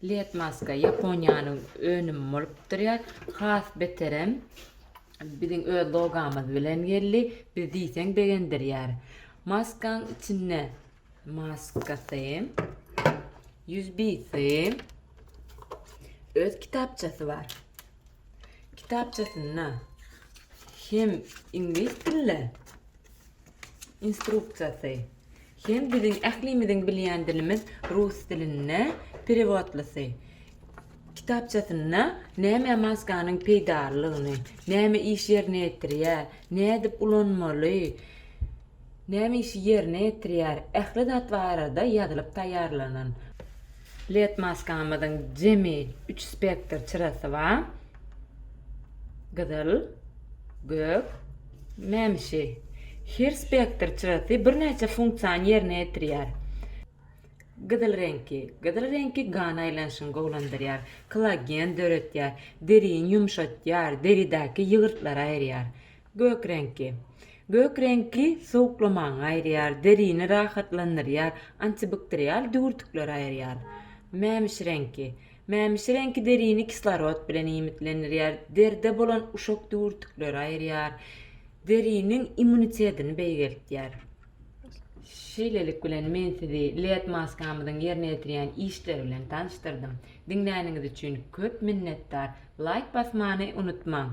Led maska Ýaponiýanyň önümi bolup durýar. Has beterem biziň öz logamyz bilen geldi. Biz diýseň begendirýär. Maskaň içinde maskasy, ýüzbisi, öz kitapçasy bar. Kitapçasynda hem iňlis dilli instruksiýasy, Hem biziň ählimiziň bilýän dilimiz rus dilinde perewodlysy kitapçasynda nämä maskanyň peýdalylygyny, näme iş ýerine ýetirýär, nädip ulanmaly, näme işi ýerine ýetirýär, ähli zat barada ýazylyp taýýarlanan. Led maskamyzyň jemi üç spektr çyrasy bar. Gyzyl, gök, mämişi. Her spektr çyrasy birnäçe funksiýany ýerine ýetirýär. Gyzyl reňki. Gyzyl reňki gan aýlanyşyny gowulandyrýar, kollagen döretýär, derini ýumşatýar, deridäki ýygyrtlary aýyrýar. Gök reňki. Gök reňki sowuklamaňy aýyrýar, derini rahatlandyrýar, antibakterial düwürtikleri aýyrýar. Mämiş reňki. Mämiş reňki derini kislorod bilen iýmitlendirýär, deride bolan uşak düwürtikleri aýyrýar, deriniň immunitetini beýgeltýär. Şeýlelik bilen men sizi LED maskamyzyň ýerine ýetirýän işleri bilen tanyşdyrdym. Diňläniňiz üçin köp minnetdar. Laýk basmany unutmaň.